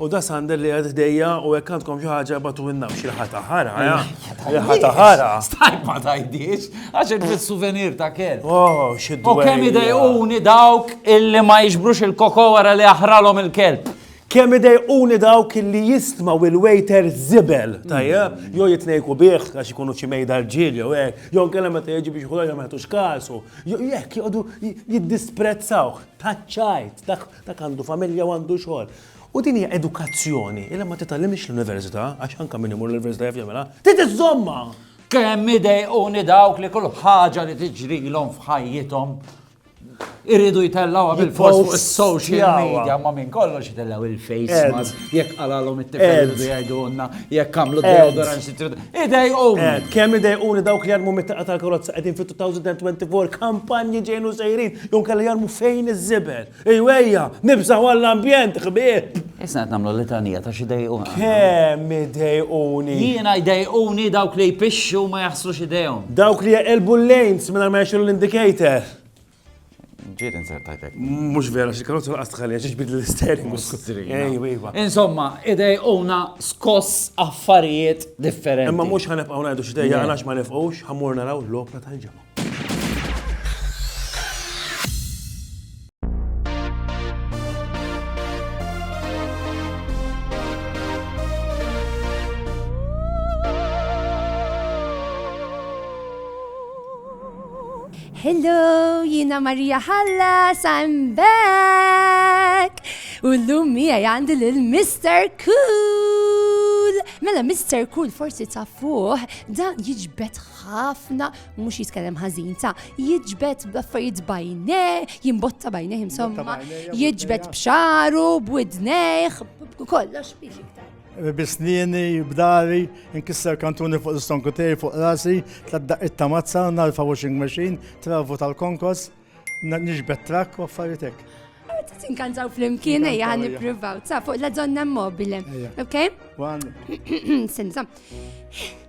U da Sander li għad ħdejja u jekk għandkom xi ħaġa batu minna biex il-ħata ħara. Il-ħata ħara. Stajk ma tajdix, għax il-souvenir ta' kell. Oh, xiddu. U kemm idejquni dawk illi ma jiġbrux il-koko wara li aħralhom il-kelb. Kemm idejquni dawk illi jistmaw il-waiter zibel, tajja, jo jitnejku bieħ għax ikunu ċimejda rġil, jo ek, jo kellem ma teġi biex xħuħra ma jħatux kasu, jo jek jgħodu jiddisprezzawħ, taċċajt, Dak għandu familja u għandu xogħol. U din hija edukazzjoni li ma titgħallimhiex l-università, għax anke min imur l-università jaf jagħmilha, trid iżżommha! Kemm idejquni dawk li kull ħaġa li tiġrilhom f'ħajjithom iridu jtellgħuha bil-fors fuq is-social media ma' minn kollox jtellgħu il-face mask, jekk qalalhom it-tifel iridu jgħidulna, jekk għamlu deodorant Idejquni! Eh, kemm idejquni dawk li jarmu mit-taqqa tal-karozza qegħdin fit-2024 kampanji ġejnu sejrin, jew kelli jarmu fejn iż-żibel. Ejwejja, nibżaw għall-ambjent, ħbieb! Isna qed nagħmlu litanija ta' xi dejqu. Kemm idejquni! Jiena idejquni dawk li jpixxu ma jaħsrux idejhom. Dawk li jaqilbu l-lanes mingħajr ma jaxxu l-indicator. Ġiet inzertajt hekk. Mhux vera, xi karozza laqas tħallija xi ġbid l-istering. Ejwa, ejwa. Insomma, idejquna skoss affarijiet differenti. Imma mhux ħanibqgħu ngħidu xi dejja għalax ma nifqux ħammur naraw l-opra tal-ġimgħa. Hello, jiena Marija Hallas, I'm back! U l-lum miegħi għandi lil Mr. Cool! Mela Mr. Cool forsi ta' fuq, dan jiġbed ħafna, mhux jitkellem ħażin ta' jiġbed b'affarijiet bajne, jimbotta bajne insomma, jiġbed b'xaru, b'widnejh, kollox biex iktar. Bisnieni, b'dari, inkisser kantuni fuq l-istonku tiegħi fuq rasi, tladdaqit ta' mazza, narfa washing machine, travu tal-konkos, nixbet trak u affarijiet hekk. Tinkantaw fl-imkien, ejja għan niprivaw, ta' fuq la donna mobile. Ok? One. Senza.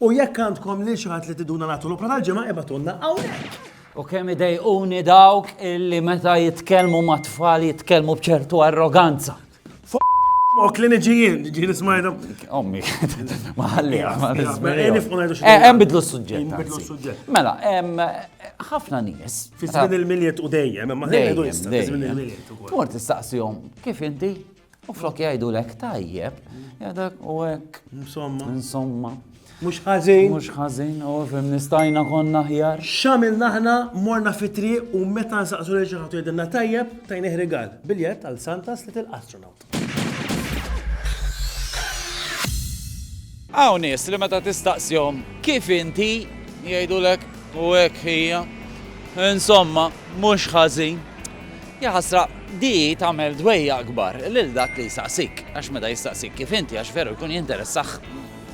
U jekk għandkom lil xi ħadd li tiduna nagħtu l-opra tal-ġimgħa ibatulna hawnhekk. U kemm idejquni dawk illi meta jitkellmu ma' tfal jitkellmu b'ċertu arroganza. Mok li niġijin, ġini smajna. Ommi, ma ħallija, ma Hemm bidlu s-suġġett. Mela, ħafna nies. Fi żmien il-miljet u dejjem, ma ħallija. Dejjem, dejjem. Mort istaqsihom kif inti U flok jgħidulek tajjeb, jgħidulek u hekk. Insomma. Insomma. Mhux ħażin. Mhux ħażin, u fim nistajna konna ħjar. Xamil naħna morna fitri u meta nsaqsu li ġaħatu jidinna tajjeb, tajni ħrigal. Biljet għal Santas li til-astronaut. Għaw nis li meta tistaqsjom kif inti jgħidulek u hekk hija. Insomma, mhux ħażin. Jaħasra, di tagħmel dwejjaq kbar lil dak li jsaqsik, għax meta jistaqsik kif inti għax veru jkun jinteressah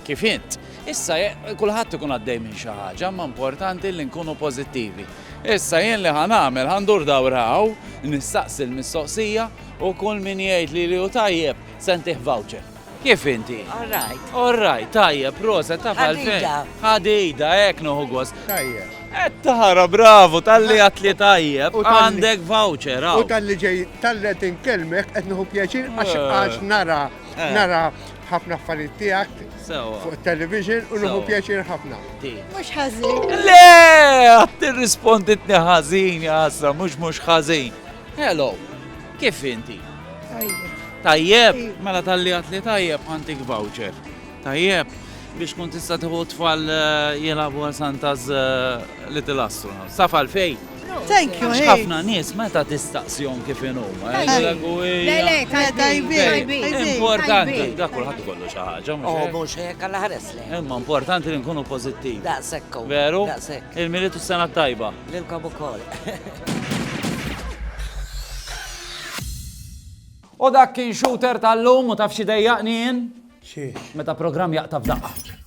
kif int. Issa kulħadd ikun għaddej minn xi ħaġa imma importanti li nkunu pożittivi. Issa jien li ħa nagħmel ħa ndur dawra hawn, nistaqsi l-mistoqsija u kull min jgħidli li hu tajjeb se ntih voucher. Kif inti? All right. All right, tajjeb, proset, taf għalfejn. Ħadida. Ħadida, hekk noħu gost. Tajjeb. Qed tara, bravu, talli għat li tajjeb, għandek voucher, hawn. U talli ġej, talli qed inkellmek qed nieħu pjaċir għax eh. għax nara, eh. nara ħafna affarijiet tiegħek fuq television u nuhu pjaċir ħafna. Mhux ħażin. Le, għad tirrisponditni ħażin, jasra, mhux mhux ħażin. Hello. Kif inti? Tajjeb. Tajjeb? Mela talli għat li tajjeb għantik voucher. Tajjeb? Biex kun tista tħu tfal eh, jilabu għal Santa's eh, Little Astronaut. Safal fej? Thank you, Għax hey. ħafna nies meta tistaqsjon kif inhom. eh, Tajjeb. jgħidu, Le, le, "Ija, tajbin, tajbin, tajbin, tajbin, Importanti, tajbin." da kulħadd kollu xi ħaġa. mhux Oh, hekk? mhux hekk alla ħares lejn. Imma importanti li nkunu pożittivi. Daqshekk. Veru? Daqshekk. Il-militu s-sena tajba. Lilkom ukoll. U dak kien shooter tal-lum u taf xi dejjaqni jien? Xiex? Meta programm jaqta' f'daqqa.